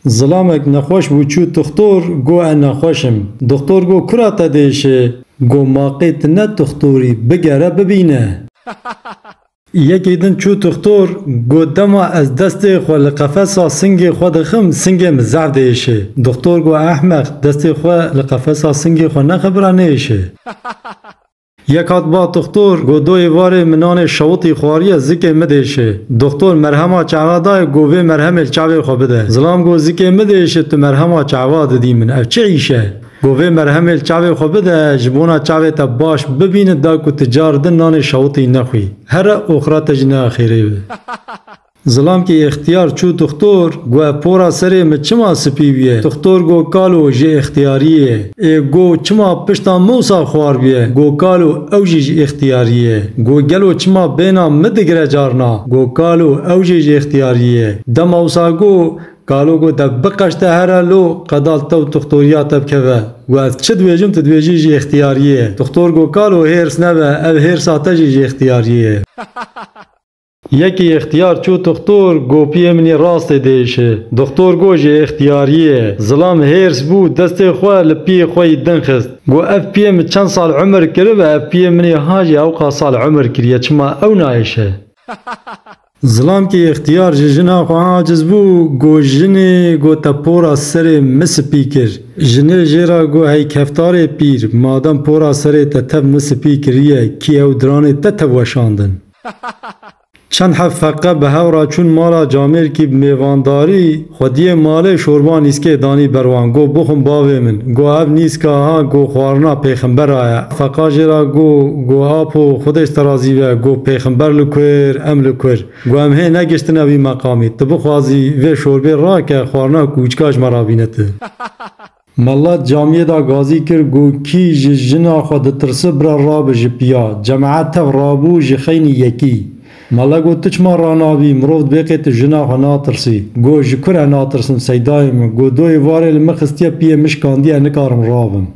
Zilamek nexweş bû çû tuxtor go e nexweş im. Duxtor go kura te diêşê? Go maqê ti ne tuxtorî bigere bibîne. Yekî din çû tuxtor go dema ez destê xwe li qefesa singê xwe dixim singê min zaf diêşê. Duxtor go ehmeq destê xwe li qefesa singê xwe nexibira nêêşê. Yek hat ba Doxtor, go doyê varê min nanê şewitî xwariye zikê midêşê. Doxtor merhema çehva dayê go vê merhemê li çavê xwe bide. Zilam go zikê midêşê tu merhema çehva didî min ev çi îş e? Go vê merhemê li çavê xwe bide ji bona çavê te baş bibîne da ku tu car din nanê şewitî nexwî. Here oxira te jî nea xêrê be. Zilam ki îxtiyar çû dixtor, gueh pora serê mi çima sipî bûye? Dixtor go kalo ji îxtiyarî ye. Ê go çima pişta mûsa xwar bûye? Go kalo ew jî ji îxtiyarî ye. Go gelo çima bêna mi digire carna? Go kalo ew jî ji îxtiyarî ye. Dema wisa go kalo go te biqeşte here lo qedal tew dixtorîya te bikeve. Guh ez çi dibêjim tu dibêjî ji îxtiyarî ye. Dixtor go kalo hêrs nebe ev hêrsa te jî ji îxtiyarî ye. Yekî Îxtiyar çû Dixtor gopiyê min yê rastê diêşe. Dixtor got ji îxtiyariyê ye. Zilam hêrs bû destê xwe li piyê xwe yî din xist. Got ev piyê min çend sal umir kiribe ev piyê min yê ha jî ewqas sal umir kiriye çima ew naêşe. Zilam kî îxtiyar ji jina xwe aciz bû got jinê got te pora serê min spî kir. Jinê jê re got hey keftarê pîr madem pora serê te tev min spî kiriye kî ew diranê te tev weşandin. Çend hev feqe bi hev re çûn mala Camêrkî bi mêvandarî. Xwediyê malê şorba nîskê danî ber wan. Got, Bixwin bavê min. Got, Ev nîska ha got xwarina pêxembera ye. Feqa jê re got, Got, Apo, Xwedêj te razî be. Got, Pêxember li ku ir, em li ku ir. Got, Em hê negiştine wî meqamî. Tu bixwazî vê şorbê rake xwarina ku ucka ji me re bîne tu. Melat camiyê da gazî kir got, Kî ji jina xwe ditirsi bira rabe ji piya. Cemaet tev rabû ji xeynî yekî. Mela got, Tu çima ranabî, mirov divê qê tu jina xwe natirsî. Got, Ji ku re natirsim seydayê min. Got, Doyê varê li min xistiye piyê min şikandiye nikarim rabim.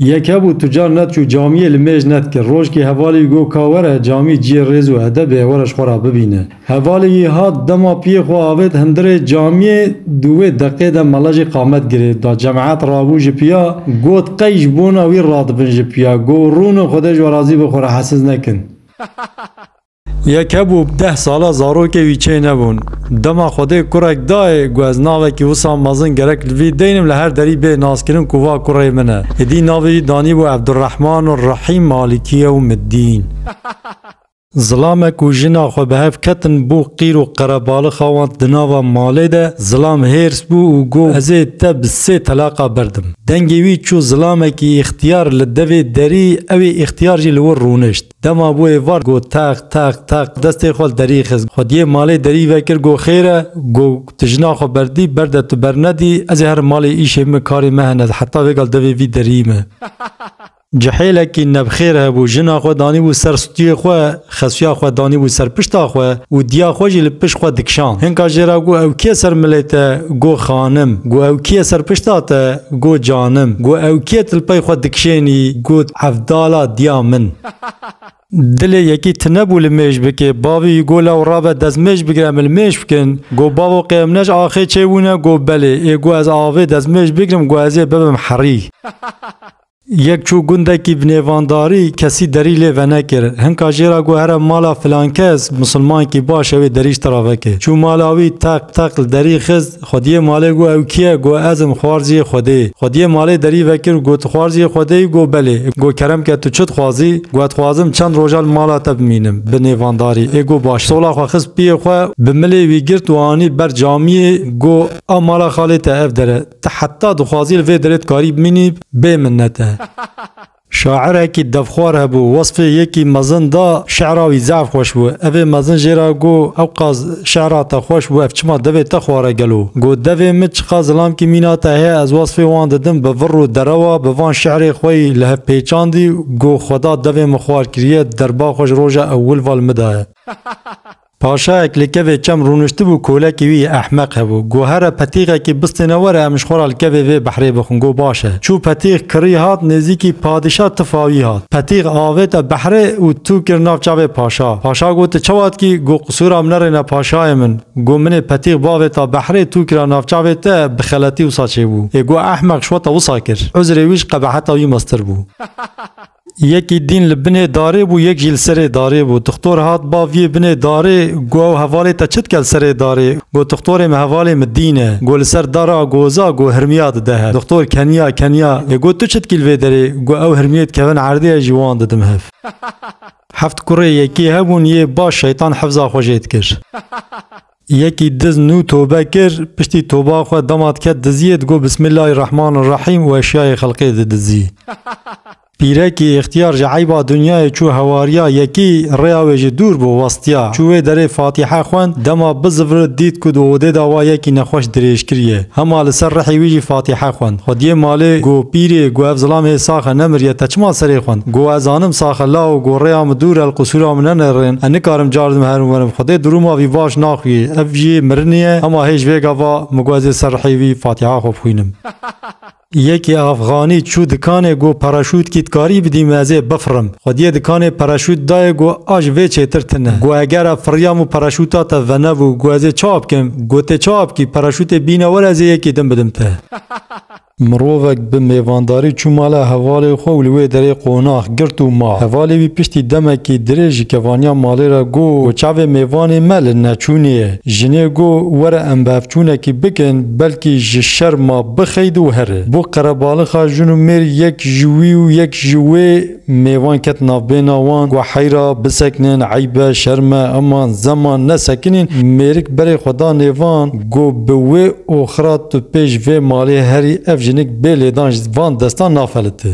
Yeke bû tucar net û camiyê li mêj net kir. Rojkê hevalî got ka were camî ciyê rêz û edebê e were ji xwe re bibîne. Hevalî yî hat dema piyê xwe avêt hundirê camiyê di wê deqê de mele jî qamet girêv da. Cemeat rabû ji piya got qey ji bona wî radibin ji piya got rûnin xwedê ji we razî be xwe re hesiz nekin. Yeke bû bi deh sala zarokê wî çê nebûn. Dema Xwedê kurek dayê ku ez navekî wisa mezin gerek li vî deynim li her derî bê naskirin ku va kurê min e. Êdî navê wî danîbû Evdurehman û Rehîm Malikiye û Middîn. Zilamek û jina xwe bi hev ketin bo qîr û qerebalix xawand di nava malê de. Zilam hêrs bû û got ez ê te bi sê telaqa berdim. Dengê wî çû zilamekî îxtiyar li devê derî ew ê îxtiyar jî li wir rûnişt. Dema bû êvar got teq teq teq destê xwe li derî xist xwediyê malê derî vekir got xêr e got tu jina xwe berdî berde tu bernedî ez ê herim malê îşê min karê me hene heta vêgal devê vî derî me cihêlekî nebxêr hebû jina xwe danîbû ser stûyê xwe xesuya xwe danîbû ser pişta xwe û diya xwe jî li pişt xwe dikişand hinka jê re got ew kê ser milê te got xanim got ew kê ye ser pişta te got canim got ew kê ye tu li pey xwe dikişênî got Hevdala diya min. Dilê yekî tinebû li mêj bikê. Bavî go lew rabe dezmêj bigire em li mêj bikin. Go bavo qêmnej axê çê wîne go belê. Ê go ez avê dezmêj bigirim go ezê bibim herî. Yek çû gundekî bi nêvandarî kesî derî lê venekir. Hinka jê ra go here mala filankes, musulmankî baş e wê derî ji te ra veke. Çû mala wî teq teq li derî xist. Xwediyê malê got ew kî ye? Got ez im xwarziyê Xwedê. Xwediyê malê derî vekir û got tu xwarziyê Xwedê yî? Got belê. Got kerem ke tu çi dixwazî? Got ez xwazim çend roja li mala te bimînim bi nêvandarî. Ê got baş. Sola xwe xist piyê xwe bi milê wî girt û anî ber camiyê. Got a mala xalê te ev der e. Ti heta dixwazî li vê derê dikarî bimînî bê minnete. Şaîrekî devxwar hebû, wesfê yekî mezin da, şîra wî zaf xweş bû. Evê mezin jê re got, Ewqas şîra te xweş bû, ev çima devê te xwar e gelo? Got, Devê min çiqas zilamkî mîna te heye, ez wesfê wan didim, bi vir û derewa bi van şîrê xwe yî li hev pêçandî, got, Xweda devê min xwar kiriye, derba xwe ji roja ewil ve li min daye. Paşayek li kevê çem rûniştibû kolekî wî yê ehmeq hebû. Got here petîxekî bistêne were em ji xwe re li kevê vê behrê bixwin. Got baş e. Çû petîx kirî hat nêzîkî padîşa tifa wî hat. Petîx avête behrê û tû kir nav çavê paşa. Paşa got tu çawa dikî? Got qisûra min nerêne paşayê min. Got min ê petîx bavêta behrê tû kira nav çavê te bi xeletî wisa çêbû. Ê got ehmeq şweta wisa kir. Uzrê wî ji qebeheta wî meztir bû. Yekî dîn li binê darê bû yek jî li serê darê bû. Tixtor hat ba viyê binê darê go ew hevalê te çi dike li serê darê? Go tixtorê min hevalê min dîn e. Go li ser dar a goza go hirmiya dide hev. Tixtor keniya keniya lê go tu çi dikî li vê derê? Go ew hirmiyê dikevin erdê ez jî wan didim hev. Heft kurê yekî hebûn yê baş şeytan hifza xwe jê dikir. Yekî diz nû tobe kir, piştî toba xwe dema diket diziyê digot Bismillahî Rehmanî Rehîm û eşyayê xelkê didizî. Pîrekî îxtiyar ji eyba dinyayê çû hewariya yekî, rêya wê jî dûr bû, westiya. Çû wê derê Fatîhe xwend, dema bizivrit dît ku di odê de wa yekî nexweş dirêj kiriye. Hema li ser rihê wî jî Fatîhe xwend. Xwediye malê, got, Pîrê, got ev zilam hê sax e, nemiriye, te çima serê xwend? Go ez zanim saxe la û go rêya min dûr e li qusûra min ne nêrên. Ez nikarim car di min herin werim. Xwedê di rûma vî baş naxwîyê. Ev jî mirinî ye. Hema hê ji vê gava min go ez ê ser rihê wî fatiha xwe bixwînim. Yekê afxanî çû dikanê go paraşûtkî dikarî bidî min ez ê bifirim. Xwediyê dikanê paraşût dayê go a ji vê çêtir tune. Go eger ev firiya min paraşûta te venebû go ez ê çawa bikim? Gotê çawa bikî? Paraşûtê bîne were ez ê yekî din bidim te. Mirovek bi mêvandarî çû mala hevalê xwe û li wê derê qonax girt û ma. Hevalê wî piştî demekî dirêj ji kevaniya malê re got, Ku çavê mêvanê me li neçûnê ye. Jinê got, Were em bevçûnekî bikin, belkî ji şer ma bixeyde û here. Bû qerebalixa jin û mêr yek ji wî û yek ji wê. Mêvan ket navbêna wan ku heyra bisekinin, eyb e, şerm e, aman zeman nesekinîn. Mêrik berê xwe da nêvan ku bi wê û xira tu pêş vê malê herî ev jinik bê lêdan ji van destan nafelite.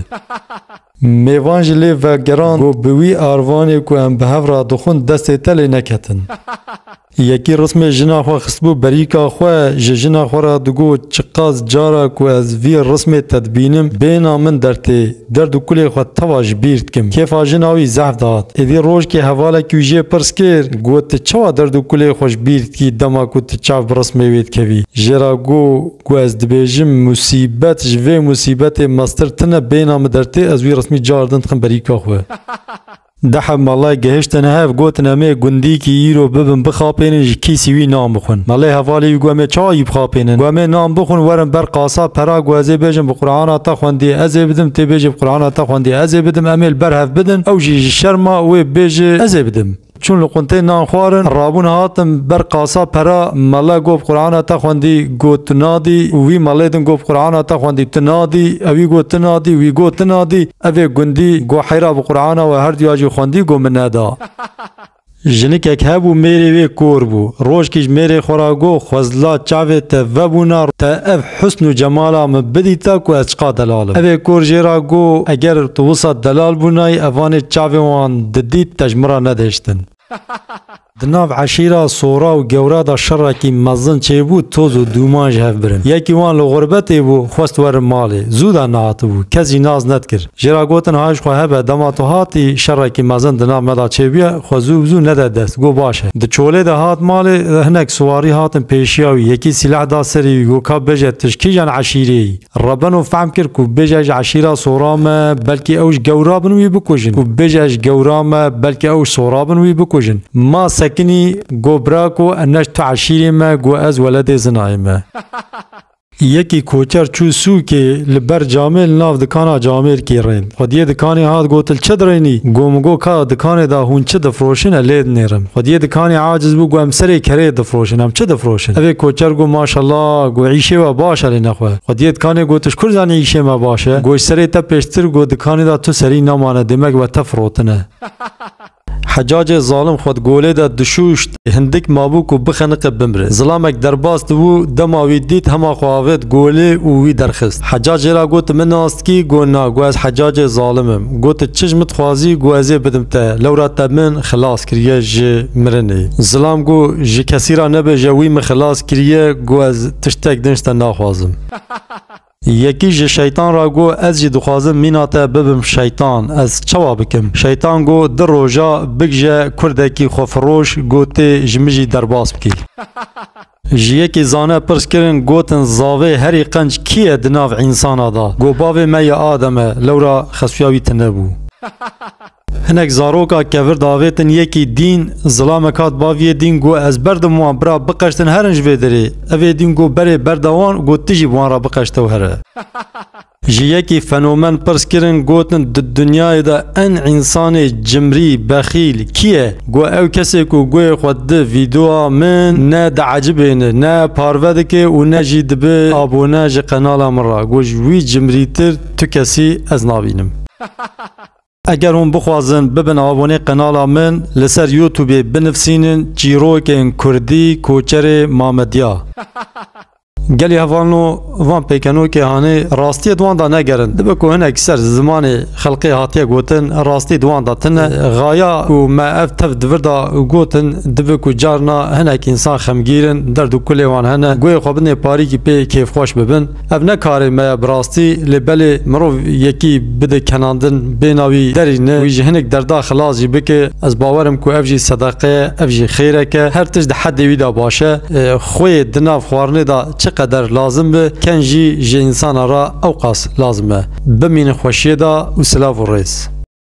Mêvan ji lê vegerand ku bi wî arvanê ku em bi hev re dixwin destê te lê neketin. Yekî rismê jina xwe xistbû berîka xwe, ji jina xwe re digot, Çiqas cara ku ez vî rismê te dibînim, bêhna min dertê. Derd û kulê xwe teva ji bîr dikim. Kêfa jina wî zehf dihat. Êdî rojkê hevalekî wî jê pirs kir, Got tu çawa derd û kulê xwe ji bîr dikî dema ku tu çav bi rismê wê dikevî? Jê re got, Ku ez dibêjim musîbet ji vê musîbetê mestir tune, bêhna min dertê, ez wî rismî car din dikim berîka xwe. Deheb malê gihiştine hev gotin em ê gundîkî îro bibin bixapênin ji kîsî wî nan bixwin. Malê hevalê wî got em ê çayî bixapênin. Got em ê nan bixwin werin ber qasab pera got ez ê bêjim bi qurana te xwendiye ez ê bidim tê bêjê bi qurana te xwendiye ez ê bidim em ê li ber hev bidin ew jî ji şerma wê bêje ez ê bidim. Çûn li quntê nan xwarin rabûn hatin ber qasab pera male got bi qurana te xwendî got tu nadî wî malê din got bi qurana te xwendî tu nadî ewî got tu nadî wî got tu nadî. Evê gundî got heyra bi Qur'ana we her duya jî xwendî got min neda. Jinikek hebû mêrê wê kor bû. Rojkî ji mêrê xwe re got Xwezla çavê te vebûna te ev husn û cemala min bidîta ku ez çiqa delal im. Evê kor jê re got eger tu wisa delal bûnayî evanê çavên wan didît te ji min re nedihiştin. Di nav eşîra Sora û Gewra de şerekî mezin çêbû, toz û dûman ji hev birin. Yekî wan li xurbetê bû, xwest werin malê. Zû der nehatibû. Kes jî nas nedikir. Jê re gotin hay ji xwe hebe, dema tu hatî, şerekî mezin di nav me de çêbûye, xwe zû bi zû nede dest. Got baş e. Di çolê de hat malê, hinek siwarî hatin pêşiya wî. Yekî sîleh da serê wî, got ka bêje tu ji kîjan eşîrê yî? Rebeno fehm kir ku bêje ji eşîra sora me belkî ew ji gewra bin wî bikujin, ku bêje ji gewra me belkî ew ji sora bin wî bikujin. Ma sekinî got birako ne ji tu eşîrê me got ez weledê zinayê me. Yekî koçer çû sûkê li ber camê li nav dikana camêrkê rên. Xwediyê dikanê hat gotil çi direynî? Go min go ka dikanê de hûn çi difroşin e lê dinêrin. Xwediyê dikanê aciz bû go em serê kereyê difroşin em çi difroşin? Evê koçer go maşella go îşê we baş e lê nexwe. Xwediyê dikanê go tu ji kur zanî îşê me baş e? Go ji serê te pêştir go dikanê de tu serî namane demek we te firotine. Hecacê zalim xwe di golê de dişûşt, hindik mabû ku bixeniqe bimre. Zilamek derbas dibû, dema wî dît hema xwe avêt golê û wî derxist. Hecac jê re got, Min ast kî? Got, Na, got ez Hecacê zalim im. Got, Tu çi ji min dixwazî? Got, Ez ê bidim te. Lewra te min xilas kiriye ji mirinê. Zilam got, Ji kesî re nebêje wî min xilas kiriye. Got, Ez tiştek din ji te naxwazim. Yekî ji şeytan re got, Ez jî dixwazim mîna te bibim şeytan, ez çawa bikim? Şeytan got, Di roja bigije kurdekî xwefiroş gotê ji min jî derbas bikî. Ji yekî zane pirs kirin, gotin, Zavê herî qenc kî ye di nav însana de? Got, Bavê me ya Adem e, lewra xesuya wî tune bû. Hinek zaroka kevir davêtin yekî dîn zilamek hat baviyê dîn got ez berdim wan bira biqeştin herin ji vê derê. Evê dîn got berê berda wan û got tu jî bi wan re biqeşte û here. Ji yekî fenomen pirs kirin gotin di dinyayê de en însanê cimrî, bexîl, kî ye? Got ew kesê ku guhê xwe di vîdeoya min ne diecibêne, ne parve dike û ne jî dibe abone ji qenala min re. Got ji wî cimrîtir tu kesî ez nabînim. Eger hûn bixwazin bibin abonê qenala min li ser youtubê binivsînin çîrokên kurdî koçerê mamedya. Gelê hevalno van pêkenokê hanê rastiyê di wan da negerin. Dibe ku hinek ser zimanê xelqê hatiye gotin rastî di wan da tine. Xaya ku me ev tev di vir da gotin dibe ku carna hinek însan xemgîrin derd û kulê wan hene guhê xwe bidinê parîkî pê kêfxweş bibin. Ev ne karê me ye bi rastî lê belê mirov yekî bide kenandin bêhna wî derî ne wî ji hinek derda xilas jî bike ez bawerim ku ev jî sedeqe ye ev jî xêrek e her tişt di hedê wî de baş e xweyê di nav xwarinê de çi qeder lazim be ken jî ji însanan re ewqas lazim e bimînin xweşiyê de û silav û rêz.